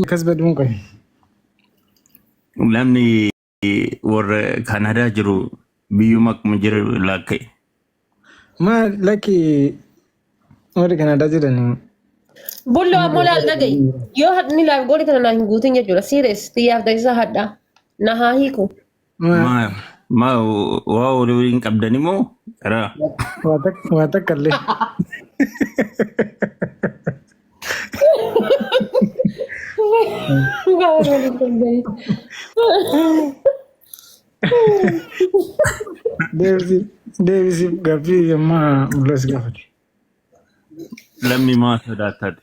Akkas godhuun qoy. Namni warra Kanaadaa jiru biyyuma akkuma jiru laakka'e. Maa lakki warri Kanaadaa jiran Bullo ammoo laal dhaga'i. Yoo hadni laal gooli kana naa hin guutin jechuudha. Siires xiyyaaf taasisaa hadhaa. Na haa hiiku. Maa maa waa walii waliin qabdani moo karaa Waa takka illee. Deebisi deebisi gaaffii ammaa mulas gaafate. lammi maa sodaattaati.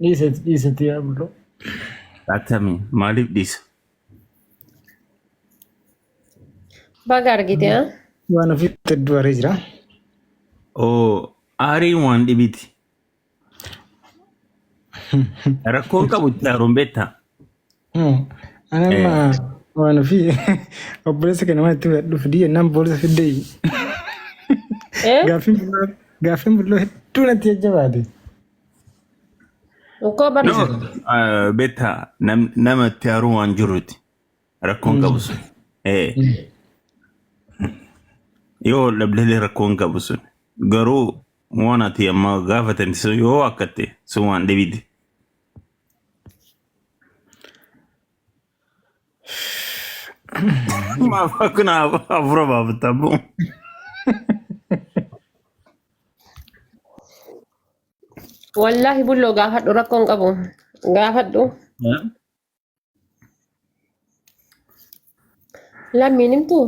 Dhiise dhiise tiyaa bullo. Atami maaliif dhiisa? Baga argite haa. Waan ofii hedduu aree jira. Oo aariin waan dhibiti. Rakkoon qabu itti aaruun beektaa? Ani amma Eh, waan ofii obboleessa kana waan itti fudhadhu fidii jennaan boolisa fiddee Eh? gaaffiin bulloo gaaffiin bulloo hedduu natti jajjabaate. Ukkoo bar Ni no, jira. eh, betta nam, nama itti haaruu waan jiruuti. Rakkoon qabu sun. Eh, yoo dhabdelee rakkoon qabu sun. Garuu waan ati amma gaafatan sun yoo akkatti sun waan dhibidi. Maaf akkana hafuura baafatta abbo. Wallaahi bulloo gaafadhu rakkoo hin qabu. Gaafadhu lammiin himtu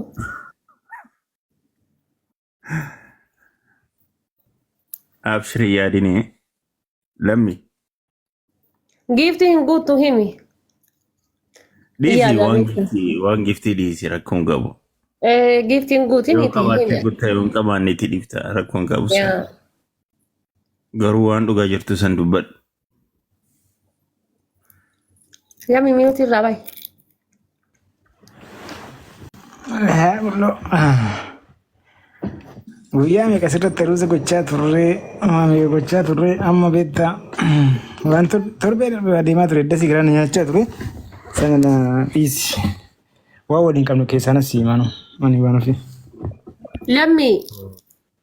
Abshir hin yaadini. Lammi. Giiftii hin guuttu himi. Dhiisi Yaada waan beektu. giftii waan giftii dhiisi rakkoon qabu. Eh, Giiftii hin guutin Yoo itti qabaatte hime. gutta yoo hin qabaanne itti dhifta rakkoon qabu san. Yaa. Garuu waan dhugaa jirtu san dubbadhu. Yami miyuuti irraa bahi. Haa buloo. Guyyaa meeqa asirratti aruuza gochaa turree maamee gochaa turree amma beektaa waan tor- torbee darbe adeemaa ture dasii garaa na nyaachaa ture sana na dhiisi waan waliin qabnu keessaanas siimanu ani waan ofii. Lammii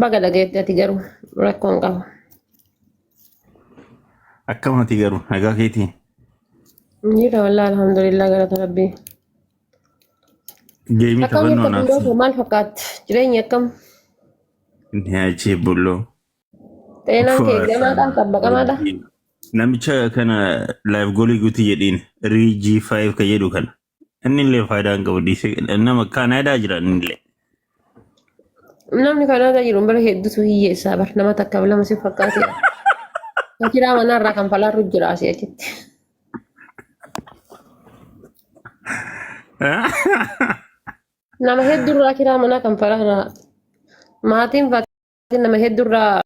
Baga dhageetti ati garuu rakkoo hin qabu. Akkamati garuu nagaa keetii Jira wallah alhamdulillah galata rabbii. geemii Akkam taphannoo jirta naaf bulloo maal fakkaatti? Jireenyi akkam? nyaachee bulloo. Xeenaan kee gamaadha? Xabbaqamaadha? Namicha kana live goolii guutii jedhiin riijii 5 ka jedhu kana. Inni illee faayidaa hin qabu dhiisee nama Kaanaadaa jira inni illee. Namni Kanaadaa jiru bara hedduutu hiyyeessaa bar nama takkaaf lama si fakkaatee. Kiraa manaarraa kan falaarru jira asii achitti. Nama hedduurraa kiraa manaa kan falaarraa maatiin nama hedduurraa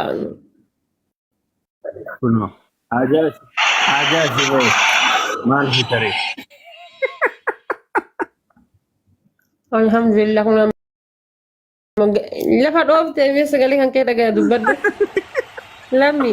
Kunoo. Haajaa haajaa si ba'e. Maal si tare? alhamdulillah kun amma lafa dhoofte mee sagalee kan kee dhagaya dubbadhu lammi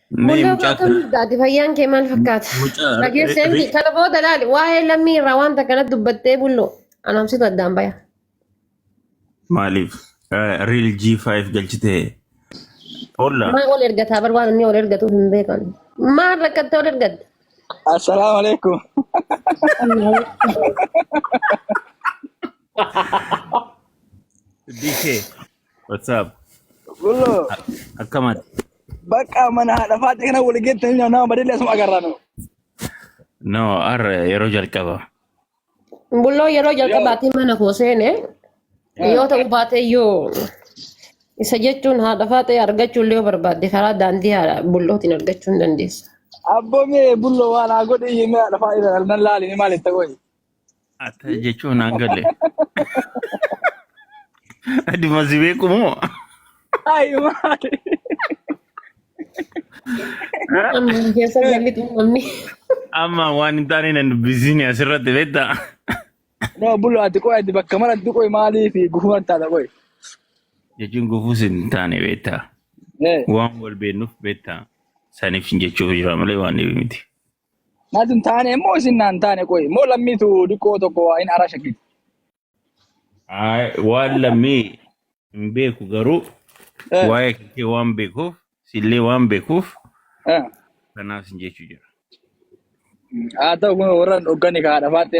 Mee Mul'atu mucaa akkam kana jirtaati? Fayyaan kee maal fakkaata? mucaa ri- Dhageessee ri- miti. ri- Kana booda laali. Waa'ee lammii irraa wanta kana dubbattee bullo. Anamsitu addaan baya. maaliif eh, riil G5 galchitee olla Maa ol ergataa bar waan inni ol ergatu hin beekan. Maal rakkattee ol ergatte? Assalamu alaikum. DK What's up? Gullo A- Akkama bakka mana haadha faatti kana wal geettanii nyaanna amma deelee asuma agarraa nu. no ar yeroo jalqaba. Bulloo yeroo Yoo. jalqabaatiin mana koo seene yoo ta'u baate iyyuu isa jechuun haadha faaxee argachuu illee yoo barbaadde karaa daandii haadha bullootiin argachuu hin dandeessu. Abboo mee bullo waan haa godhe iyyuu mee haadha faatti kana nan laali ni maal itti godhe. Atta jechuun naan galle. Adi masi beeku moo? Ayi maali. Amma hin keessa galli xumurni. Amma waan hin taane nan dubbisiini asirratti beektaa? No bulu ati qoy ati bakka maratti qoy maalii fi gufuu an taata qoy. Jechuun gufuus hin taane beektaa? Eh. Waan wal beeknuuf beektaa? Saniif jechuuf jira malee waan dhibi miti. Natu hin taane immoo isin naan taane qoyi. Immoo lammiitu diqqoo tokko waa hin ara shakkiti. Ay, waan lammii hin beeku garuu Eh, waa'ee kee waan beekuuf sillee waan beekuuf eh. kanaaf sin jechuu jira. Haa ta'u kun warra hin dhogganne kaa dhafaatte.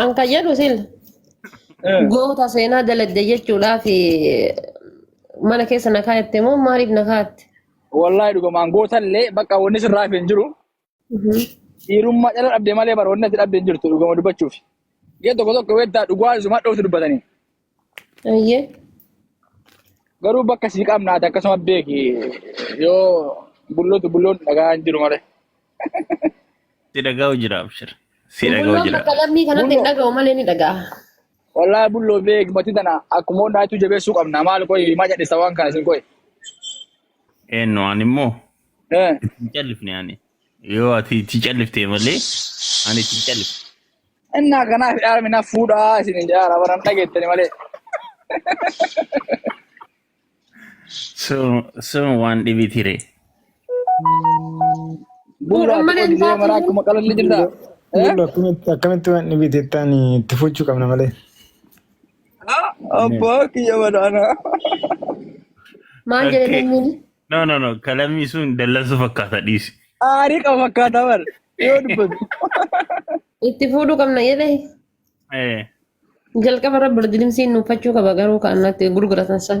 An kan jedhu sil Eh, goota seenaa dalagde jechuudhaaf mana keessa na kaa'atte moo maaliif na kaa'atte? Wallahi dhugumaan gootallee bakka wanni sirraa hafe hin jiru. Dhiirummaa dhala dhabde malee bara wanni ati dhabde hin jirtu dhuguma dubbachuuf. Gee tokko tokko weettaa dhugaa isumaa dhoofti dubbatanii. Ayyee. Garuu bakka sii qabnaati akkasuma beeki yoo bullotu bulloon dhagaa hin jiru malee. Si dhaga'u jira abshir. Si dhaga'u Bulloon jira. bakka lammii kanatti hin Bulloo dhaga'u malee ni dhaga'a. wallaahi bulloo beeki mati tana akkuma hundaatu jabeessuu qabna maal qoyi maa cadhisa waan kana isin qoyi. Eenyu ani immoo Eh. itti hin callifne ani. Yoo ati itti calliftee malee ani itti hin callifne. Innaa kanaaf yaarmi na fuudhaa isin hin jaara baran dhageettani malee. So so waan dhibitire. Buuraa ati qoodi jee maraa akkuma qalalli jirta. Eh? Bulla akkamitti akkamitti waan dhibite ittaan itti fuchuu qabna malee. Abbaa kiyya badaana. Maal jedhe Okay. sanyiin? No, no, no. Kalamii sun dallansuu fakkaata dhiisi. Aarii qaba fakkaataa bar. Yoo dubbatu. Itti fuudhuu qabna jedhee Eh, jalqaba irra birdidimsiin nuuffachuu qaba garuu kan natti gurguratan san.